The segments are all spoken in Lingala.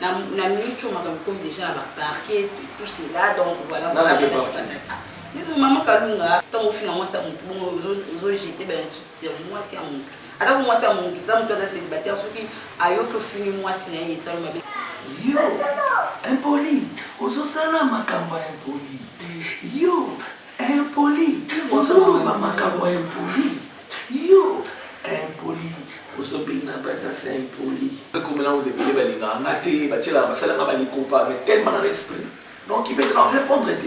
Na na mutual makambo ekomi deja na ba parquet tout cela donc voilà Nani voilà akeyi patati parquet? patata. Mais bon maman Kalunga ntango ofinga mwasi ya moto bongo ozo ozo jeter ba insultes sur mwasi ya moto. Atako mwasi ya moto ata moto aza celibataire soki ayoki ofingi mwasi na ye esali mabe. Yo impoli ozosala makambo ya impoli yo Impoli ozo loba makambo ya impoli yo impoli ozo bina ba danse ya impoli. Ekomela ngo ebele balingaka nga te batielaka basala nga ba likopa mais tellement na respect donc il peut na repondre te.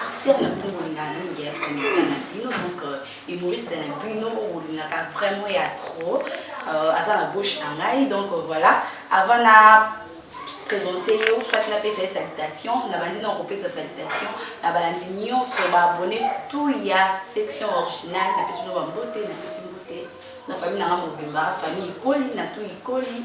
acteur na bino bolingaka mingi ya comédien na bino donc humoriste na bino bolingaka vraiment ya trop euh, aza na gauche na ngai donc euh, voilà avant na présente yo soit napesa ye salutation nabandi na kopesa salutation na balandi nyonso baabone tout ya section originale napesi bino bambote napesi mbote na famille nanga mobimba famille ikoli na tout ikoli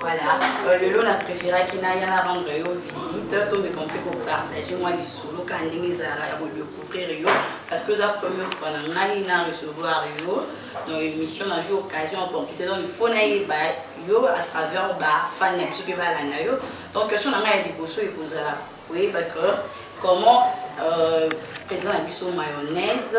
Voilà, euh, lelo na préféraki naya na rendre yo visite to me compris ko partager mwa lisolo ka ndenge ezalaka ya kodecouvrir yo parce que oza première fois na ngai na recevoir yo dans émission na jour occasion opportunité donc il faut nayeba yo à travers bafani na biso mpe balanda yo donc question na ngai ya liboso ekozala koyeba que comment euh, président na biso mayonnaise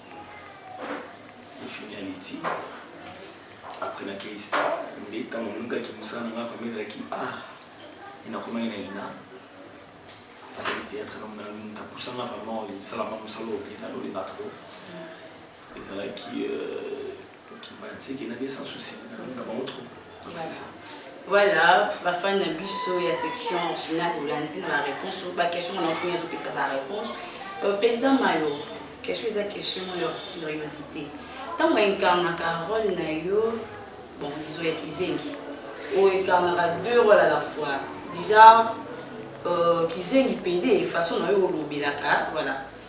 fini ya miti après na kelista nde ntango nalukaki mosala na ngai vraimen ezalaki art e nakomaki na ina asali théâtre na mona moto apusanga vraiment esalaka mosala oyo mpe nalolinga trop ezalaki euh, Voilà, ba fan na biso ya section originale olandi na ba réponse ba question na okomi azo pesa ba réponse euh, président Mayo question eza question ya curiosité ntango incarnaka role na yo bon bizo ya kizengi oyo incarnaka deux role à la fois déjà euh, kizengi pede façon na yo olobelaka voilà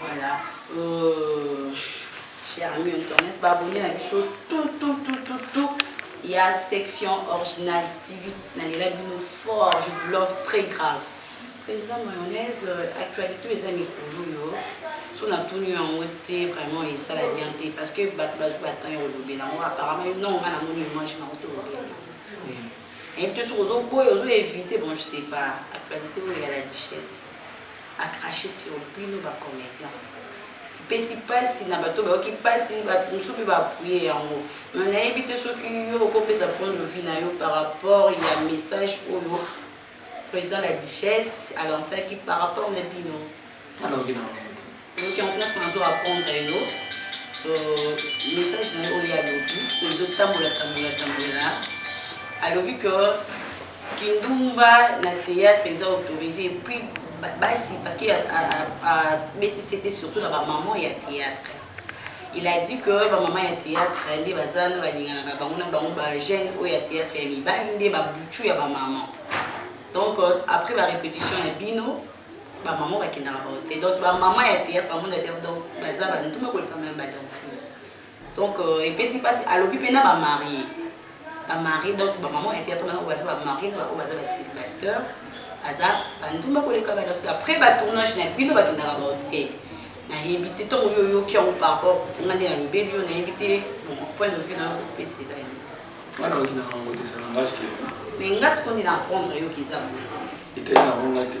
Voilà. Euh, cher ami internet, ba abonné na biso tout tout tout tout tout. Il y a section originale TV na lela bino fort, je vous love très grave. Président mayonnaise, euh, actualité eza mikolo yo. So na tuni yango te vraiment esala bien te parce que bato bazwi batemp ya kolobela yango apparemment yo nongo nga namoni image na oto olobela nayebi te soki ozoboya ozoevite bon je sais pas actualité oyo ya la richesse a crache sur bino ba comediens epesi pasi na bato bayoki pasi bato mosusu mpe ba appuye yango mais nayebi te soki yo okopesa point de vue na yo par rapport ya message oyo président la duchesse a lancaki par rapport na bino nalobi na yango te donc yango place nazo apprendre yo euh, message na yo oyo alobi oyo ezotambola tambola tambola alobi que Kindumba na theatre eza autorise et puis basi parce que abeti sete surtout na ba maman ya theatre il a dit que ba maman ya theatre nde baza na balinganaka bango na bango ba jeune oyo ya theatre ya mibali nde babutu ya ba maman donc euh, après ba répétition na bino ba maman bakendaka bango te donc ba maman ya theatre bamona te donc baza banduma koleka meme ba danseuse Donc epesi pasi alobi pe na ba marie. Ba marie donc ba maman ya théâtre wana baza ba marie na ba baza ba célibataire aza ba ndumba koleka ba nasi après ba tournage na bino ba kindaka ba hotel. Na yebi te tango yo yo ki yango par rapport nga nde na lobeli yo na yebi te bon point de vue na yo pesi eza ye. Wana okina ngo te ça n'engage que. Mais nga sikoyo nde na apprendre yo ki eza. Etali na ngo nga te.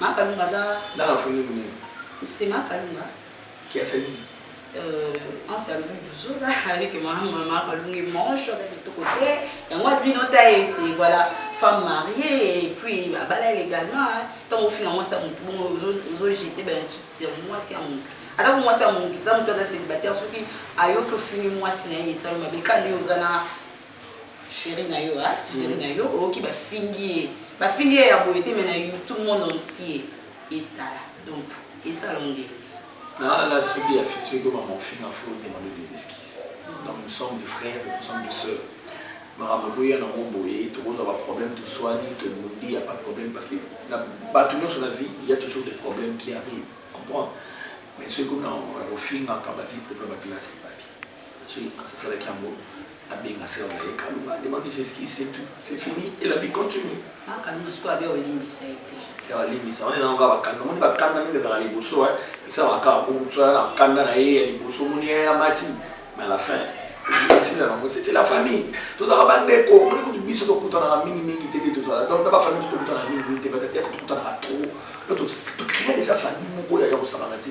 Ma kalunga aza nanga afoni munene c'est ma kalunga qui a sali euh anse alobi buzola aleke mama ma kalunga emanche aza kitoko te yango adrino ta ye te voilà femme mariée et puis abala ele également ntango ofinga mwasi ya motu bongo ozojete bainsulte ya mwasi ya motu ata ko mwasi ya motu ata motu aza célibataire soki ayoki ofingi mwasi na ye esali mabe kani oza na Cherie nayo ah cherie nayo oyoki ba fingi ye ba fingi ye ya boye te mais na youtube monde entier etala donc eza longue na la subi ya fille soki koma mofinga faut demander des excuses donc nous sommes des frères nous sommes des sœurs makambo ekoya nango boye tokozwa baproblème toswani tobundi ya pas de problème parce que na bato nyonso na vie il y a toujours des problèmes qui arrivent comprendre mais soki kuna ofingaka bavie privé bakelasi epapi soki muasi asalaki yango abenga sœur na ye kaloba demande justice c'est tout c'est fini et la vie continue akanima sikoyo abe olimbisa ye te ya alimbisa wana ezanga kaka bakanda omoni bakanda ndenge ezalaka liboso esalaka kaka po motu aya na kanda na ye ya liboso omoni ye amati mais à la fin esila nango c'est la famille tozalaka bandeko omoni kutu biso tokutanaka mingi mingi te nde tozala donc na bafamille biso tokutanaka mingi mingi te batata yaka tokutanaka trop donc tokrea eza famille moko ya kosangana te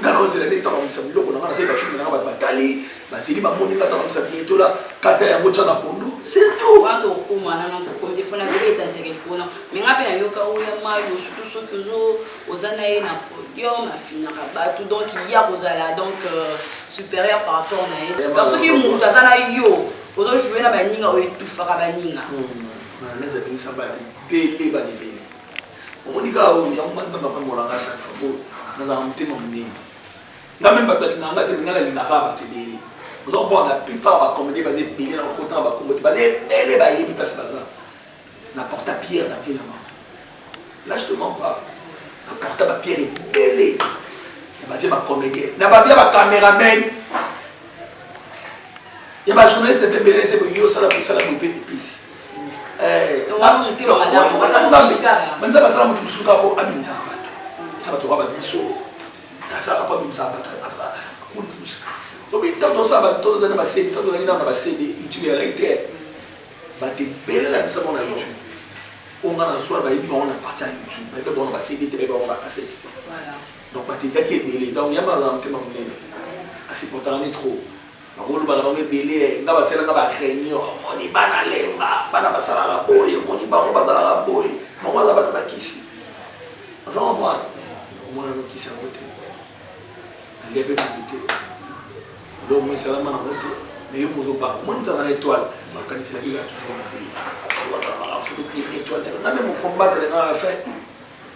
nga naozela nde tabongisa biloko na nga nasali bafilme na nga bato batali bazeli bamoni nga tabongisa bietola kata yango tya na pondu setout wana tokokoma na nano tokomi te fona bibeta nteke likona me nga mpe nayoka oya mayo surtout soki ozo oza na ye na podium afinaka bato donc ya kozala donc euh, supérieur par rapport na ye donc soki moto aza na yo ozo joue na baninga oyo etufaka baninga hmm, hmm. na neza binisamba te bele banibele omoni kaka oyo yango nga nzambe apambola nga chaque fois po nazala motema monene nga meme bato balingaka nga te nga nalingaka bato ebele oza komona la plupart bacomédie baza ebele na kokota na bakombo te baza ebele bayebi place baza na porta pierre na vie na bango là je te mens pas na porta bapierre ebele na bavie bacomédien na bavie bacameraman ya ba journaliste mpe ebele ese boye osala kosala boye mpe epesi banza basala moto mosusu kaka mpo abimisaka bato esa bato kaka babiso asalaka mpo abimisaka bato kulus obi ntango tosala bato tozana basede ntango tozalaki nana basede youtube yalaki te bato ebele na bisa mona youtube oyo ngai na swana bayebi bango na parti ya youtube bayebi bango na basede te bayebi bango na basete te Donc bato ezalaki ebele donc yama azala motema monene a supportaka nde trop bakoloba na bango ebele nga basala nga ba réunion omoni bana lemba bana basalaka boye omoni bango bazalaka boye bango aza bato bakisi oza comprendre omona nokisi yango te nalia mpe bango te elo omoi esalama nango te mais yo mozobanga omoni kaka na étoile bakaniselaki kaka toujours mabe étoile na meme combattre na la fin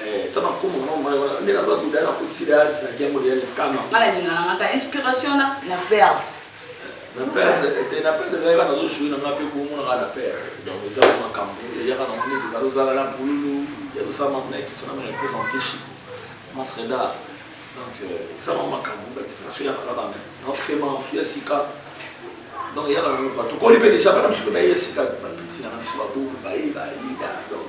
Eh, ata na kombo na mama wana nde naza buda na kotisi le azi na gengo le ya likama. Nga na linga na nga ka inspiration na na perdre. Na perdre eh, te na perdre ezali kana zo jouer na nga pe bongo na nga na perdre. Donc eza ko makambo ya kana moni te zalo zala na pululu ya lo sama na kiso na mena pesa mpishi. Mas redar. Donc euh, eza ko makambo ba inspiration ya kana kana. Na crema ya sika. Donc ya kana ko to ko lipe déjà ba na msuko na yesika ba tina na msuko ba bu ba yi ba yi da. Donc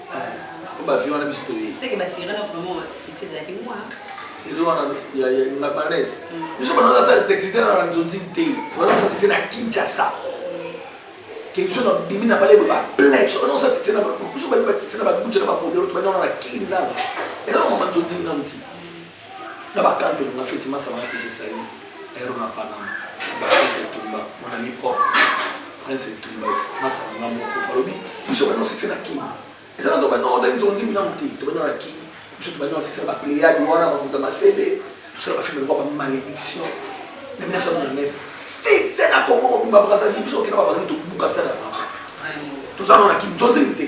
po ba vie wana biso toyebi seke ba sirene na vraiment wa site ezalaki mwa sirene wana ya ya na banaise mm. biso bana na sala texte na na nzonzi te bana sala texte na Kinshasa ke biso na bimi na bale ba play biso bana sala texte na biso ba texte na ba butcher na ba polo to bana na kin na eza na nzonzi na mti Na ba cantons na feti masama na feti salut Aero na Panama ba Prince Etumba mon ami propre Prince Etumba masama na moko balobi biso ba non succès na King eza na to ba non ben zonzi mina muti to ba na King biso to ba non succès ba Pléiade wana ba muta masele tout ça ba film ba malédiction na 1999 succès na Congo mobimba Brazzaville biso okenda ba bangi to buka stade ya Brazzaville tozalona ki nzonzi te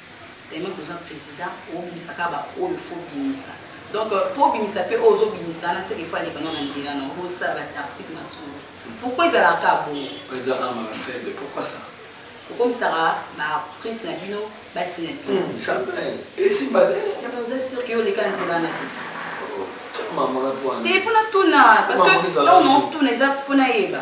Tellement toza president obimisa kaka ba oyo faut bimisa donc po obimisa pe oyo ozobimisa wana seke faut aleka no na nzela na bosala ba tactique na solo pourquoi ezalaka kaka bongo ezalaka maka faible pourquoi ça okomisaka ba prince na bino basi na bino jamais esimba te yaba oza sur ke oleka na nzela na te telefone atuna parce que ntango na otuna eza mpo nayeba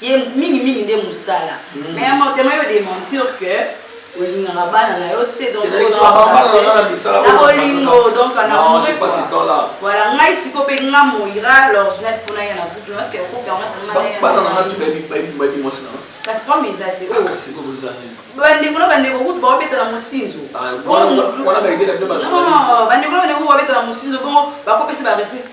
ye mingi mingi nde musala mm. mais ya motema yo dementir que olingaka bana na yo te donc na bolingo donc voilà ngai siko mpe nga moira l'original mpo na ye na groupe parce que groupe yango kasi pome eza te bandeko na bandeko kutu bakobeta na mosinzo bandeko na bandeko bakobeta na mosinzo bongo bakopesa barespect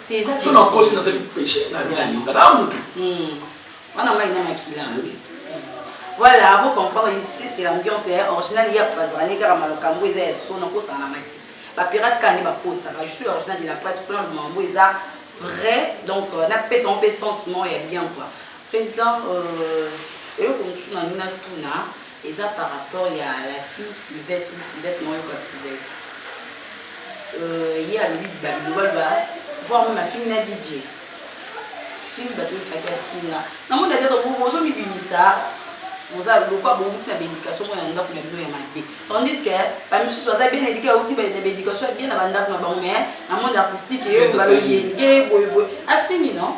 so nakosi nazali peche nani alinga na mutu wana mai na makila voilà bo comprendre ici c'est l'ambiance ya eh, original ya pazani kaka malokambo eza ya sona kosana na mai te bapirate kaka nde bakosaka je suis original de la presse plan mambo eza vrai donc euh, napesa yango mpe sens moko ya bien quoi président euh, eloko mosusu na ngai natuna Eza par rapport ya la fille flivette ou flivette na oyoka flivette euh, ye alobi babilobaloba voir meme afingi na dj fingi bato efaki afinga na moni ata ozomibimisa oza lokwa bouti na baéducation moko na ndako na bino ya mabe tandis que bamisusu baza bien éduqué auti na baéducation ya bien na bandako na bango mais na monde artistique eyo baloyenge boyeboye afingi non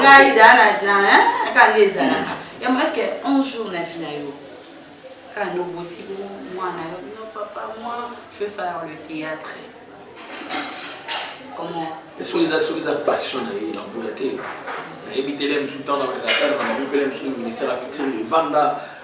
ngai daakande ezalaka yango eske un jour na vie na yo kande oboti mwana yo no papa moi je vais faire le théâtre comment soki eza soki eza passion na ye na mbula te nayebi tele mosusu ntango na heure na mabopele mosusu ministère ya culture evanda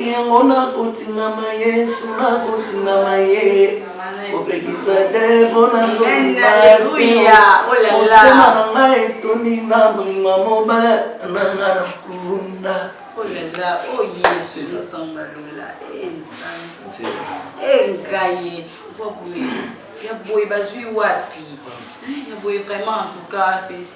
Yango nakotingama Yesu, nakotingama ye kopekisa te mpo nazolibateya motema na ngai etondi na bolingo ya mobala na ngai na kulunda engaye ya boye bazwi wapi ya boye vraiment en tout cas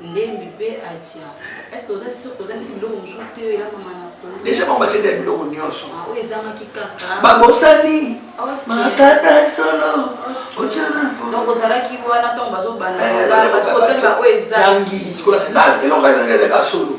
ndembi mpe atia eske oza sur kozangisi biloko mosusu te oyo elamama na kongo deja bango batie nde ya biloko nyonso ah, oyo ezangaki kaka babosani makata solo donc ozalaki wana ntango bazobanaeloko ezangi ezanga solo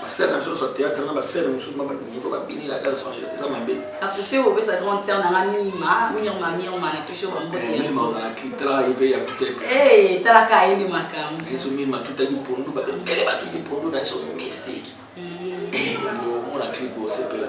Ba sœurs na biso nionso ya theatre na ba sœurs mosusu ba niveau ba bini na danse wana eza mabe. Na profite ko pesa grande sœur na nga Mima, Mirma Mirma na pesi yo ba mbote ya. Mima ozala ki tala ye pe ya tuta epa. Eh tala ka ye nde makambo. Na yeso Mima tuta ki pondu ba mbele ba tuta ki pondu na yeso mystique. Mm. Eh, mona clip osepela.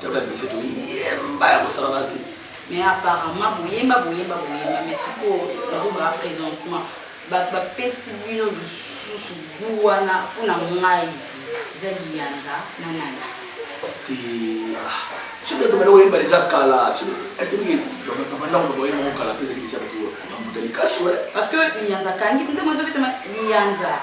Toka bise to yemba ya kosala na te. Mais apparemment boyemba boyemba boyemba mais sikoyo nazoba présentement bato bapesi bino lisusu bu wana mpo na ngai eza liyanza na nani soki bato banda koyemba deja kala estce mingi babanda koto boyemba ngo kala mpe ezali deja bato bambutani kasi parce que liyanza kangi mpe nzembo ezobetama liyanza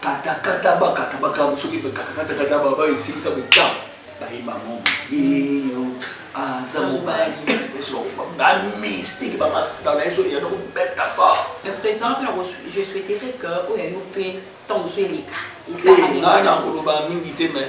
kata kata ba kata ba kata soki ba kata kata kata ba ba esili ka beta ba yi ba mo yeyo aza mobali ezo ba mystique ba mas ba na ezo ya ko beta fa le président pe je souhaiterais que oyo yo pe tant que eleka eza na ngana ko ba mingi te mais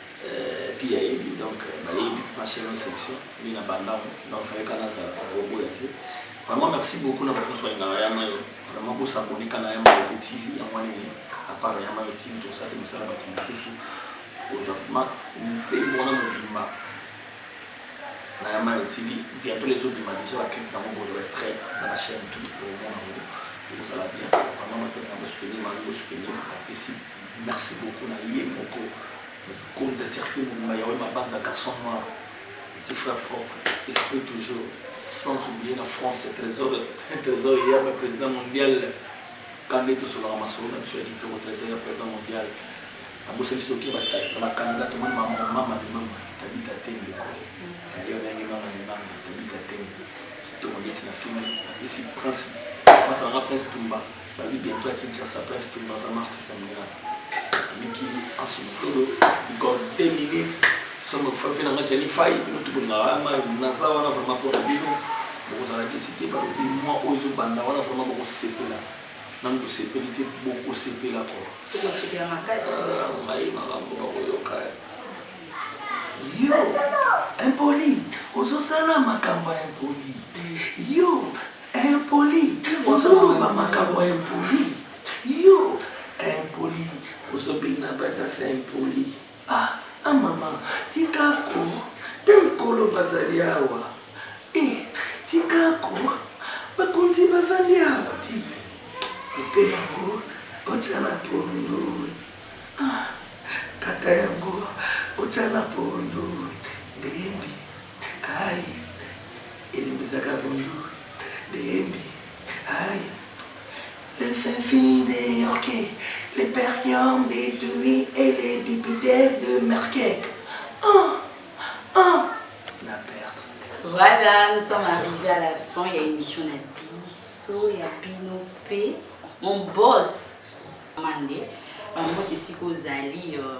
Euh puis ya yebi donc ba yebi na chaine section nde na banda ngo donc fallait ka na zala ko boya te vraiment merci beaucoup na ba tous ba ngala ya mayo vraiment ko s'abonner kana ya mayo TV ya mwana ni à part ya mayo TV to sa te misala ba tout susu ozafuma nse mwana mobimba na ya mayo TV bientôt les autres bima déjà ba clip na ngo bo restreint na ba chaîne tout au monde ekozala bien vraiment bato na bosoutenir bango bosoutenir bapesi Merci beaucoup na ye moko mokonzi ya circuit mobimba Yaweh Mabanza garçon noir petit frère propre esprit toujours sans oublier na France trésor trésor ya ba président mondial kande tosolaka masolo na biso ya kitoko trésor ya président mondial abosani biso toke na bacanada tomoni mama mama limama tabita te ndeko nayo nange mama limama tabita te kitoko ndeti na filme apesi prince masanga prince tumba Babi bientot ya Kinshasa prince pumba vraiment artiste ya munela amiki asumufulu igor 2 minutes somo fafi nanga jani fai bino tubongaka ma naza wana vraiment mpo na bino bokozala desi te balobi mwa oyo ezobanda wana vraiment bokosepela nanu tosepeli te bokosepela ko tokosepela makasi ngai makambo bakoyoka yo impoli ozosala makambo ya impoli yo Impoli ozo loba makambo ya impoli yo impoli ozo bina ba danse impoli ah ah maman tika ko ta mikolo bazali awa eh tika ko bakonzi bavandi awa ti mpe yango otya na pondu ah kata yango otya na pondu ayi elimbisaka bonjour de yembi ayi le fin de yorke le perkion de tui et le bipiter de merkek oh oh na perdre voilà nous sommes arrivés à la fin ya émission na biso ya bino mpe mon boss mande bambote esika ozali euh,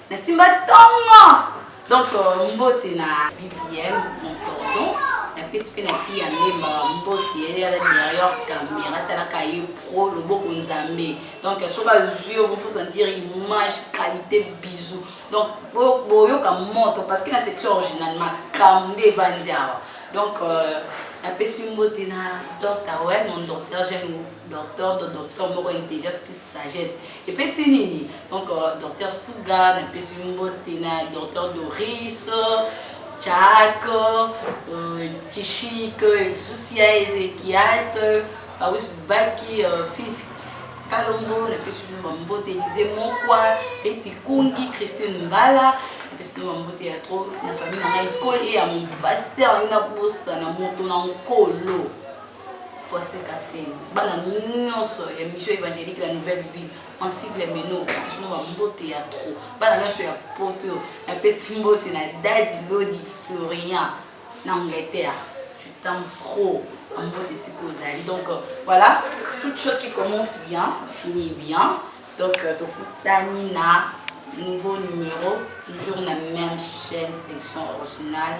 Na timba tongo. Donc euh, mbote na BBM mon cordon. Na pesi pe na fille ya Mbemba ba mbote ye ya derrière caméra talaka ye pro loboko nzambe. Donc soki azwi yo faut sentir image qualité bisous. Donc bo- boyoka moto parce que na section originale makambo nde evandi awa. Donc euh, napesi mbote na docteur wel mon docteur jeune docteur do docteur moko intelligence plus sagesse Epesi nini donc docteur Stuga na pesi mbote na docteur Doris Jack Tishik Susia Ezekias Awis Baki Fils Kalombo na pesi bino mbote Elize Mokwa Betty Kungi Christine Mbala epesi bino mbote ya trop na famille na ngai ekoli ya mon pasteur na bosana moto na nkolo Foster Kassem, bana nyonso ya mission évangélique la nouvelle vie en sigle meno sino ba mbote ya trop bana nyonso ya poto napesi mbote na dadi lodi florian na angleterre je t'aime trop en mbote esika ozali donc euh, voilà toute chose qui commence bien finit bien donc euh, tokutani na nouveau numéro toujours na même chaîne section originale